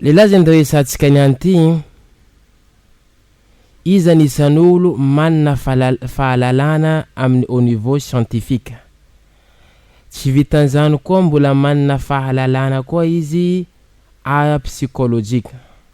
Lehilahy zany resahantsika niany ity, iza ny isan'olo manana fahalalana amin'ny au niveau scientifique. Tsy vitan'izany koa mbola manana fahalalana koa izy ara-psikolojika.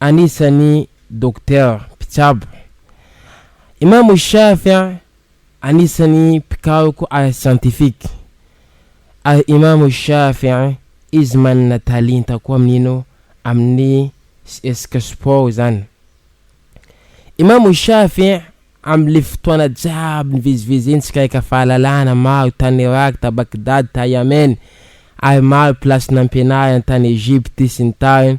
anisan'ny Docteur mpitsabo. Imam Shafy anisan'ny mpikaroka ara-siantifika. Ary Imam Shafy izy manana talenta koa amin'ny ino? Amin'ny sesika sport izany. Imam Shafy amin'ilay fotoana jiaby nivezivezeny sy kaika fahalalana maro tany Irak, ta Baghdad, ta Yemen ary maro place nampianariny tany Egypte sy ny tariny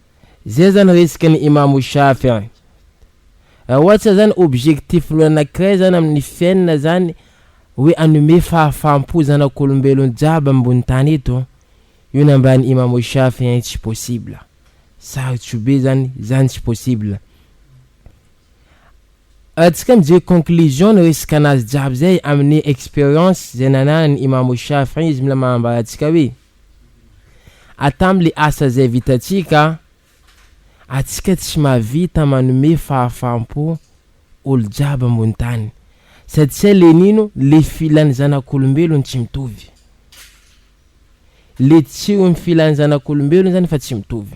Zay zany resaka ny Imamo Shafy an! Raha ohatra zany objectif-nao anakiray zany amin'ny fiainana zany hoe hanome fahafaham-po zanak'olombelona jiaby ambony tany eto, io nambaran'i Imamo Shafy an tsy possible! Sarotro be zany, zany tsy possible! Raha tsika mijery conclusion ny resaka anazy jiaby zay amin'ny experience zay nananan'i Imamo Shafy an izy mila manambara antsika hoe, Atam le asa zay vitantsika a! Atsika tsy mahavita manome fahafampo olo jiaby ambony tany satsia le nino le filan zanakolombelon tsy mitovy. Le tsihon ny filan zanakolombelon zany fa tsy mitovy.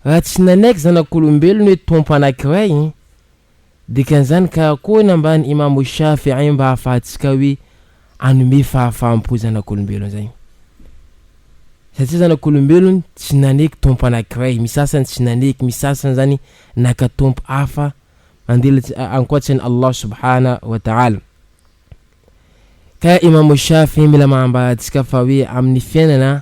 Raha tsy nanaiky zanakolombelon hoe tompo anakiray Dikan'izany ka Akohona mba ny Imamo Shafi'i mba hahafahantsika hoe hanome fahafaham-po zanak'olombelona izany. Satria zanak'olombelona tsy naneky tompo anankiray, misy sasany tsy naneky, misy sasany izany naka tompo hafa mandilatsy ankoatran'i Allah subhana wa ta'ala. Ka Imamo Shafi'i mila manambara antsika fa hoe amin'ny fiainana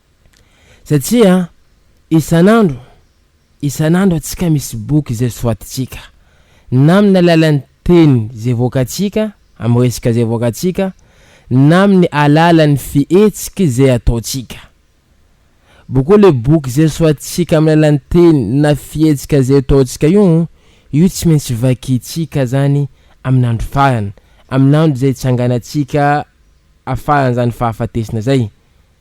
Satria isan'andro, isan'andro antsika misy boky izay soatintsika, na amin'ny alalan'ny teny izay voakantsika, amin'ny resaka izay voakantsika, na amin'ny alalan'ny fihetsika izay ataontsika. Boko ilay boky izay soatintsika amin'ny alalan'ny teny na fihetsika izay ataontsika io, io tsy maintsy vakintsika izany amin'andro farany, amin'andro izay itsanganantsika afaran'izany fahafatesana izay.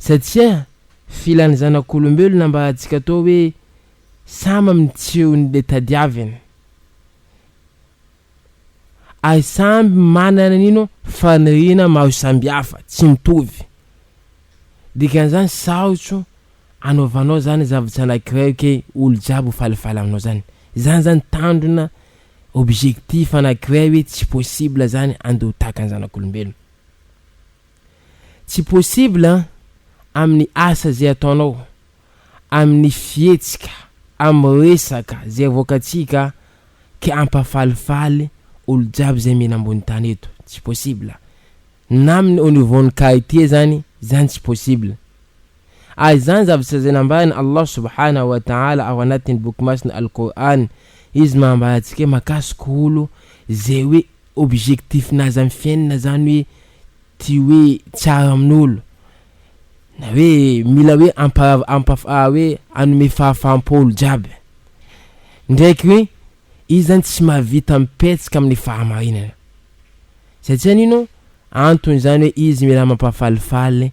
Satria filan'ny zanak'olombelona mba hahatsika toa hoe samy amin'ny tsihon'ilay tadiaviny. Ary samy manana ny no faniriana maro samihafa, tsy mitovy. Dikan'izany sarotro anaovanao zany zavatra anankiray ke olo jiaby ho falifaly aminao zany. Zany zany tandrona objectif anankiray hoe tsy possible zany andeha ho tahaka ny zanak'olombelona. Tsy possible an! Amin'ny asa zay ataonao, amin'ny fihetsika, amin'ny resaka zay avoakantsika ka ampahafalifaly olo jiaby zay mihina ambony tany eto. Tsy possible. Na amin'ny au niveau ny qualité zany, zany tsy possible. Ary zany zavatra zay nambaran'i Allah Subhanahu wa Ta'ala ao anatin'ny boky masina Al-Qur'an, Izy maha ambara antsika hoe makasiko olo zay hoe objectif-nazy amin'ny fiainana zany hoe tia hoe tsara amin'olo na hoe mila hoe amparav- ampaf- ah, hoe hanome fahafaham-po olo jiaby ndraiky hoe izy zany tsy mahavita mipetsika amin'ny fahamarinana satsia nino antony zany hoe izy mila mampafalifaly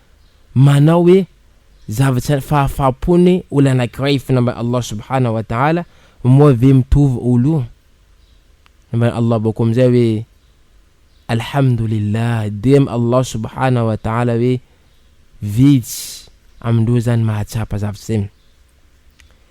manao hoe zavatra fahafaham-pony olona anankiray hifona amin'i Allah subhanahu wa ta'ala moa ve mitovy olo io? Nambaran'i Allah bakeo amin'izay hoe Alhamdulillah dia amin'i Allah subhanahu wa ta'ala hoe vitsy amindreo zany mahatsapa zavatra zay.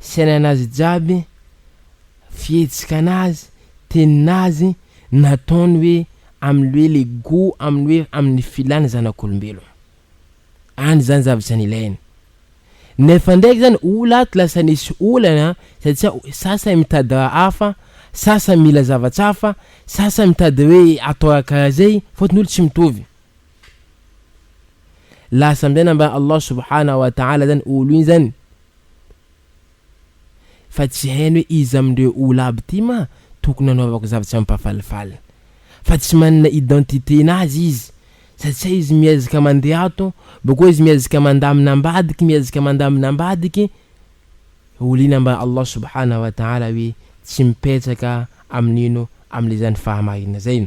fiainan'azy jiaby, fihetsikanazy, tenin'azy, nataony hoe amin'ny hoe le gout amin'ny hoe amin'ny filàny zanak'olombelona. Any zany zavatra nilainy. Nefa ndraiky zany olo ato lasa nisy olana satsia sasany mitady raha hafa, sasany mila zavatra hafa, sasany mitady hoe atao raha karaha zay, fotony olo tsy mitovy. Lasa amizay nambaran'i Allah subhanahu wa ta'ala zany olo iny zany Fa tsy hainy hoe iza amindreo olo aby ty ma tokony anaovako zava tsy ampafalifaly fa tsy manana identité nazy izy satsia izy miezaka mandeha ato bakeo izy miezaka mandamina ambadiky miezaka mandamina ambadiky olo iny amba Allah subhana wa taala hoe tsy mipetraka amin'ino amle zany fahamarina zay.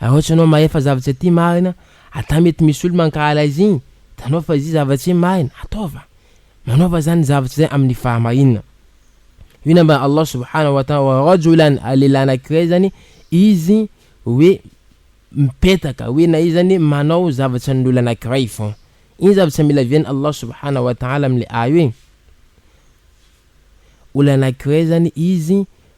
Raha ohatra ianao mahefa zavatra tsy aty marina, ata mety misy olo mankahala izy igny, hitanao fa izy io zavatra tsy marina, ataova, manaova zany zavatra zay amin'ny fahamarinana. Io nambaran'i Allah subhanahu wa ta'ala wa rajulan, lehilahy anankiray zany izy hoe mipetaka, hoe na izy zany manao zavatra ny olona anankiray fao. Iny zavatra mila vian'i Allah subhanahu wa ta'ala am'le aya hoe, olona anankiray zany izy,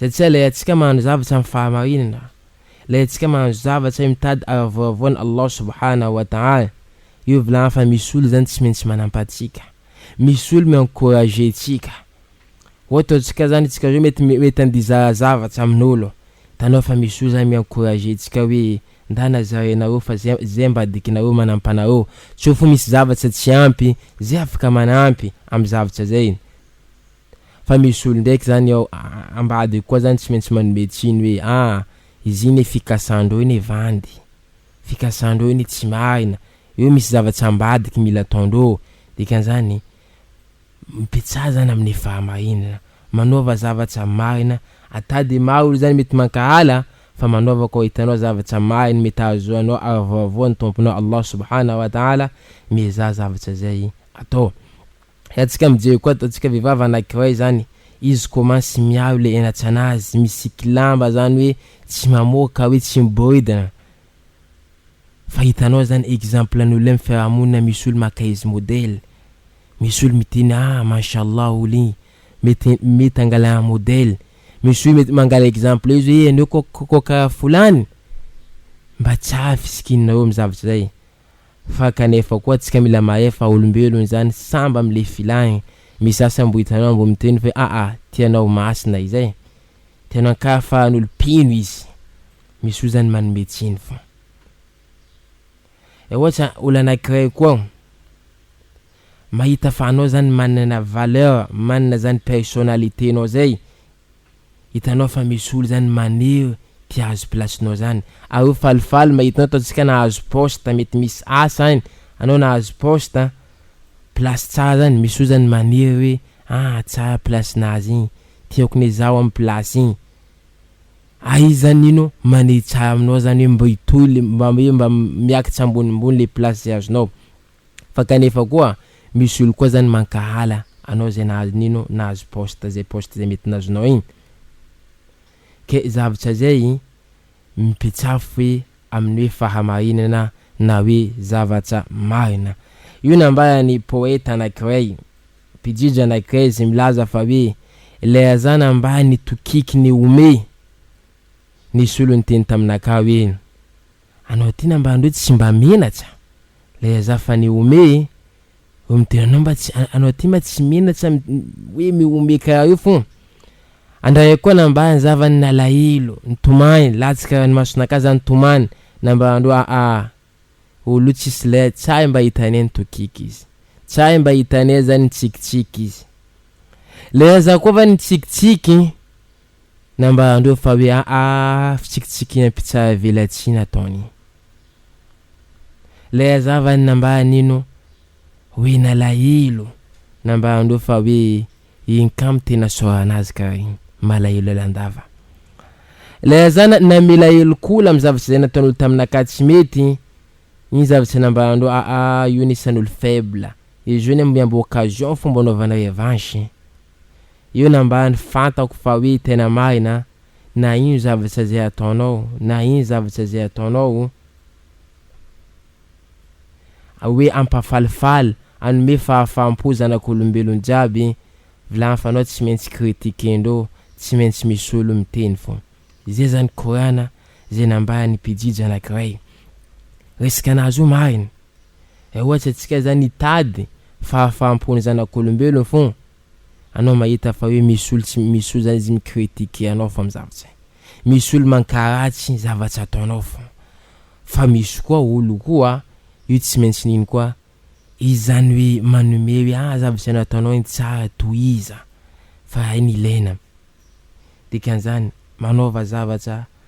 Izay tsy hay ilay antsika mahandro zavatra amin'ny fahamarinana, ilay antsika mahandro zavatra mitady ara-voavao an'i Allah Subhanahu wa Ta'ala. Io volagna fa misy olo zany tsy maintsy manampa antsika, misy olo mi-encourager antsika. Ohatra antsika zany antsika roa mety mety andeha hizara zavatra amin'olo, hitanao fa misy olo zany mi-encourager antsika hoe ndana zarainareo fa zay zay ambadikinareo manampa anareo, tsy ho fo misy zavatra tsy ampy, zay afaka manampy amin'ny zavatra zay. Fa misy olo ndraiky zany ao ambadiko koa zany tsy maintsy manome tsiny hoe ah izy iny fikasandreo anie vandy, fikasandreo anie tsy marina, eo misy zavatsy ambadika mila ataondreo, dikan'izany mipetsaha zany amin'ny fahamarinana, manaova zavatra marina, ata dia maro olo zany mety mankahala fa manaova koa hitanao zavatra marina mety hahazoanao arivavoa ny Tomponao Allah Subhana wa Taala, miezaha zavatra zay atao. Atsika mijery koa ataontsika vehivavy anakiray zany izy commence miaro le enatsanazy misiky lamba zany hoe tsy mamoaka hoe tsy miboridana fa hitanao zany exemple ny olona fiarahamonina misy olo maka izy modèle misy olo miteny ah manshallah olo igny mety mety hangalana modèle misy olo mety mangala exemple izy hoe anao ko ko karaha folany mba tsara fisikinareo am zavatra zay Fa kanefa koa tsika mila mahay fa olombelon zany samb am le filany, misy za sambo hitanao mbo miteny fa aa ty anao masina izay, tena ka fa an'olo mpino izy, misy oa zany manome tsiny fa. Dia ohatra olo anakiray koa mahita fa anao zany manana valeur, manana zany personnalite nao zay, Hitanao fa misy olo zany maniry te hahazo place nao zany, ary io falifaly mahita anao ataontsika nahazo poste mety misy asa any anao nahazo poste an, place tsara zany misy olo zany maniry hoe ah tsara place nahazo igny tiako ne zaho am place igny, ary izy zany ino maniry tsara aminao zany hoe mba hitohy le mba hoe mba miakatsa ambonimbony le place azonao. Fa kanefa koa misy olo koa zany mankahala anao zay nahazo nino nahazo poste zay poste zay mety nazonao igny ke zavtra zay mipetsafy aminy hoe fahamarinana na hoe zavatra marina io nambarany poeta anakiray mpijija anakiray zay milaza fa hoe ilay razana ambany tokiky ny ome nisolo niteny taminakahy hoe Anao ty na mba an'reo tsy mba menatsa lay aza fa ny ome e hoe midera anao mba tsy anao ty ma tsy menatsa hoe miome karaha io fô andraray koa na mba anzava ny nalahelo nitomany latsaka raha ny masonakah za nitomany na mba andro aa olo tsisy lay tsahy mba hitanay ny tokiky izy tsahy mba hitanay zany nitsikitsiky izy lay aza koa va nitsikitsiky Na mba handova fa hoe aa fitsikitsiky ampitsahavelatsihy nataony. Ilay hazavany na mba hanino hoe nalahelo na mba handova fa hoe iny kamo tena isaorana azy ka iny. Malahelo lalandava. Ilay hazana namela helokola amin'ny zavatra izay nataon'olo tamina ka tsy mety, iny zavatra na mba handova aa io ny isan'olo faible. Izy io ny miambo occasion fomba anaovana revanche. Io no ambany fantako fa hoe tena marina na ino zavatra izay ataonao na ino zavatra izay ataonao hoe ampafalifaly anome fahafaham-po zanak'olombelona jiaby vilany fanao tsy maintsy critiquer-ndreo tsy maintsy misy olo miteny fô izay zany korana izay nambaran'ny mpijijy anakiray resaka nazy io marina. Raha ohatra antsika zany hitady fahafaham-po ny zanak'olombelona fogna, anao mahita fa hoe misy olo tsy misy olo zany izy mi-critiquer anao fa am'zavatra misy olo mankaratsy zavatra ataonao fogna, fa misy koa olo koa io tsy maintsy nino koa izy zany hoe manome hoe ah zavatra nataonao igny tsara tohiza fa hay ny ilaina, dikan'izany manaova zavatra.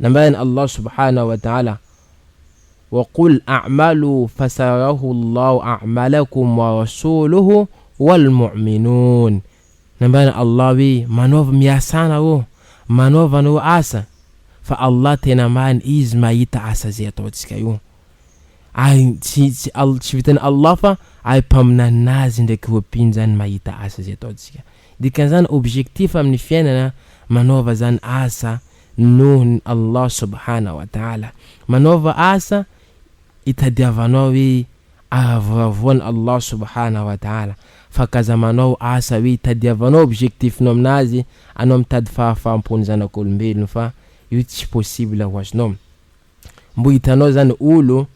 Nambaran' Allah subhanahu wa ta'ala, Wa qul a'malu fasayarahu Allahu a'malakum wa rasuluhu wal mu'minun, Nambaran' Allah hoe, Manaova miasa anareo, manaova anareo asa, fa Allah tena marina Izy mahita asa izay ataontsika io, ary tsy tsy vitan' Allah fa ary Mpaminanina Azy ndraiky ireo mpino izany mahita asa izay ataontsika. Dikan'izany objectif amin' ny fiainana manaova izany asa. Nohon' i Allah subhana wa taala, manaova asa itadiavanao hoe ahavoravoa an' Allah subhana wa taala, fa k'aza manao asa hoe itadiavanao objectif-nao aminazy anao mitady fahafaham-po ny zanak' olombelona fa io tsy possible ho azonao. Mbo hitanao zany olo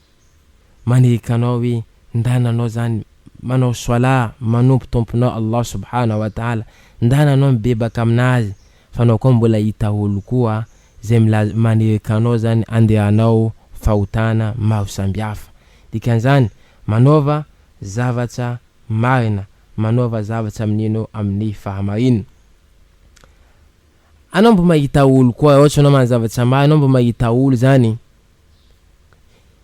manehika anao hoe ndana anao zany manao soalah manompo tomponao Allah subhana wa taala ndana anao mibebaka aminazy fa anao koa mbola hita olo koa zay milaza manehika anao zany andeha hanao fahotana maro sambihafa dikanzany manaova zavatra marina manaova zavatra mineno aminy fahamarina anao mbo mahita olo koa ohatra anao manao zavatra marina anao mbo mahita olo zany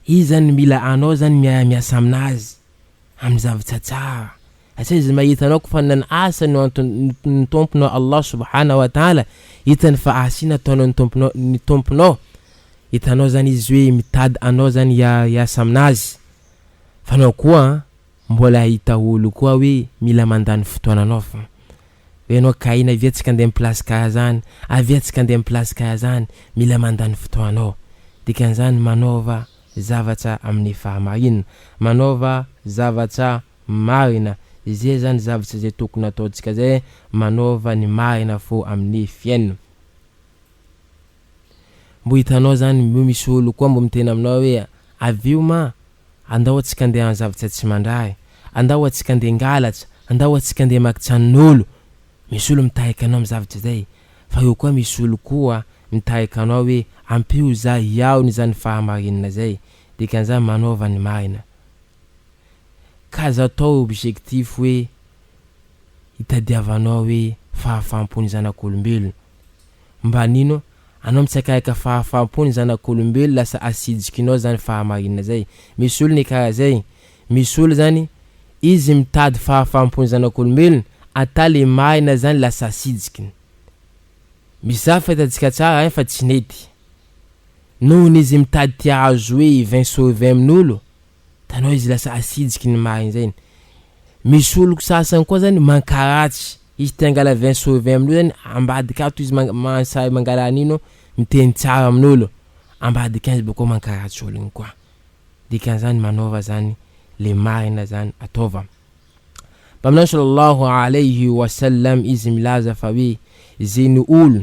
Izy zany no mila anao zany mia- miasa aminazy amin'ny zavatra tsara satria izy mahita anao ko fa nanana asa no anton- ny Tomponao Allah Subhana wa Ta'ala, hitany fa asa iny ataonao ny Tomponao ny Tomponao, hitanao zany izy hoe mitady anao zany hia- hiasa aminazy, fa anao koa an mbola hahita olo koa hoe mila mandany fotoananao fa Ho ianao kah iny avia tsika andeha mpilasy kah zany, avia tsika andeha mpilasy kah zany, mila mandany fotoanao. Dikan'izany manaova zavatra amin'ny fahamarinana, manaova zavatra marina, izay zany zavatra izay tokony hataontsika izay, manaova ny marina fo amin'ny fiainana. Mbo hitanao zany mbo misy olo koa mbo miteny aminao hoe avio ma andao atsika ndeha any zavtsa tsy mandrahy andao atsika ndeha ngalatra andao atsika ndeha maky tranonolo misy olo mitahika anao am zavtra zay fa eo koa misy olo koa mitahika anao hoe ampio za hiaona izany fahamarinana zay dikanzany manaova ny marina ka aza atao objectif hoe hitadiavanao hoe fahafampo ny zanakolombelona Mba nino anao mitsakaika fahafampo ny zanak'olombelo lasa asidikinao zany fahamarinana zay. Misy olona e karaha zay. Misy olona zany izy mitady fahafampo ny zanak'olombelona ata le marina zany lasa asidikiny. Misy zany fahitantsika tsara ein fa tsy nety. Nohon'izy mitady te ahazo hoe vin sauve amin'olo. Hitanao izy lasa asinjiky ny marigny zay ny. Misy olo ko sasany koa zany mankaratsy, izy te hangala vin sur vin amin'olo zany ambadika ato izy man- man- sahy mangala an'ino, miteny tsara amin'olo, ambadikan'izay bakeo mankaratsy olo igny koa. Dikan'izany manaova zany le marina zany ataova. Mpaminany Sallallahu Alayhi Wasallam izy milaza fa hoe, ze ny olo,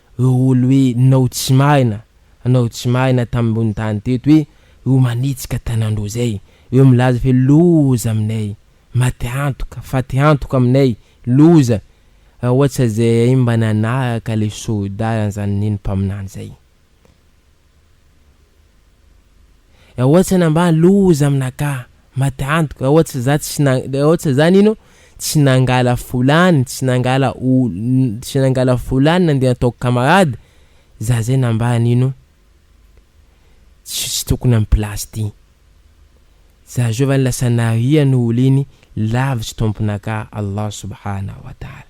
Ireo olo hoe nao tsy marina nao tsy marina tambony tany teto hoe ireo manitsika tanandroa zay ireo milaza fe loza aminay maty antoka faty antoka aminay loza ra ohatsa zay mba nanaraka le soldat zany neny mpaminany zay Eotsa na mba loza am naka maty antoka eotsa za tsy na eotsa za nino tsy nangala folany tsy nangala o tsy nangala folany nandeha ataoko camarade za zay na mba nino tsisy tokony am place ty za zao va lasa narian olo iny lavitsy tompon aka Allah subhana wa taala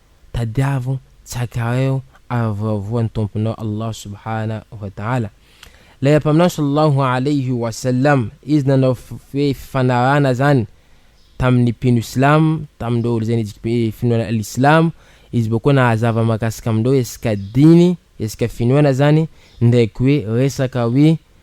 Tadiavo tsakaiao ary voavoa ny Tomponao Allah Subhana wa Ta'ala. Ilay Mpaminany Sallallahu Alayhi wa Sallam, Izy nanao hoe fifanarahana zany tamin'ny mpino silamo, tamin'ireo izay nijik'be finoana al-Islamo, Izy vao koa nahazava mahakasika amin'ireo hesika diny, hesika finoana zany, ndraiky hoe resaka hoe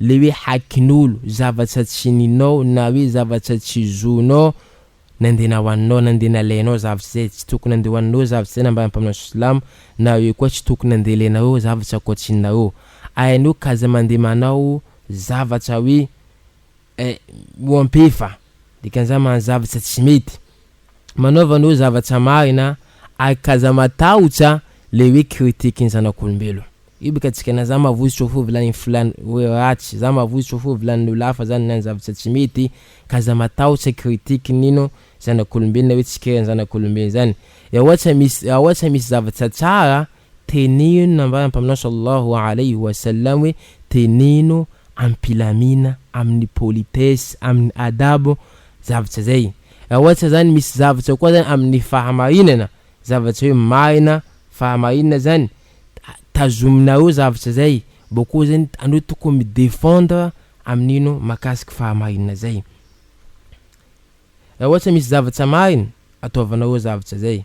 le hoe hakin'olo, zavatsa tsy ninao na hoe zavatsa tsy zonao nandeha nahoaninao, nandeha nalainao zavatsa zay tsy tokony nandeha hoaninao zavatsa zay nambaran'ny mpaminany silamo na hoe koa tsy tokony nandeha alainareo zavatsa ankoatsinareo ainao k'aza mandeha manao zavatsa hoe eh mihoampefa dikan'izany manao zavatsa tsy mety manaova anao zavatsa marina ary kaza matahotsa le hoe critique ny zanak'olombelo io bika tsika na za mavozotro fo vilanin filan hoe ratsy za mavozotro fo vilanin olo hafa za ninan zavatsa tsy mety kaza matahotsa critique nino zanak'olombelona hoe tsikera ny zanak'olombelona zany eoatsa misy eoatsa misy zavatsa tsara Teneno nambaran'ny Mpaminany Sallallahu Alayhi wa Sallam hoe, Teneno amim-pilamina, amin'ny politesse, amin'ny adab, zavatra zay. Raha ohatra zany misy zavatra koa zany amin'ny fahamarinana, zavatra hoe marina, fahamarinana zany, tazominareo zavatra zay, bôkô zany anareo tokony mi-defendre amin'ino? Mahakasiky fahamarinana zay. Raha ohatra misy zavatra marina, ataovanareo zavatra zay.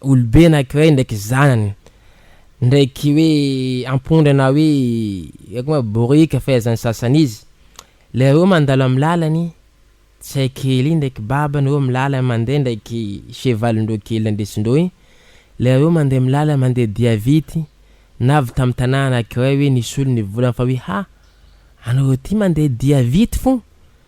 olobe anankiray ndraiky zanany ndraiky hoe ampondra na hoe haiko ma borika fahaizan'ny sasany izy, le reo mandalo am lalany, tsy hay kely iny ndraiky babany reo milalany mandeha ndraiky chevalindreo kely nandesindreo iny, le reo mandeha milalany mandeha dia vity, na avy tam tanà anankiray hoe nisolo ny volany fa hoe ha! anareo ty mandeha dia vity fon!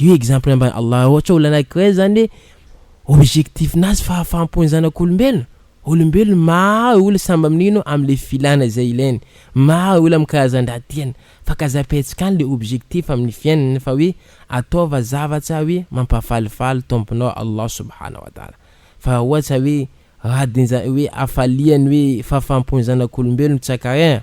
Io exemple ambany Allah ohatra olona anankiray zany objectif nazy fahafaham-po ny zanak'olombelona, olombelona maro olona samby mino amle filana izay ilainy, maro olona amin'ny karazan-draha tiany fa ka zapaintsika any le objectif amin'ny fiainany fa hoe ataova zavatra hoe mampahafalifaly Tomponao Allah Subhana wa Taala fa raha ohatra hoe radin-ja hoe hafaliany hoe fahafaham-pon'ny zanak'olombelona tsy ankaregna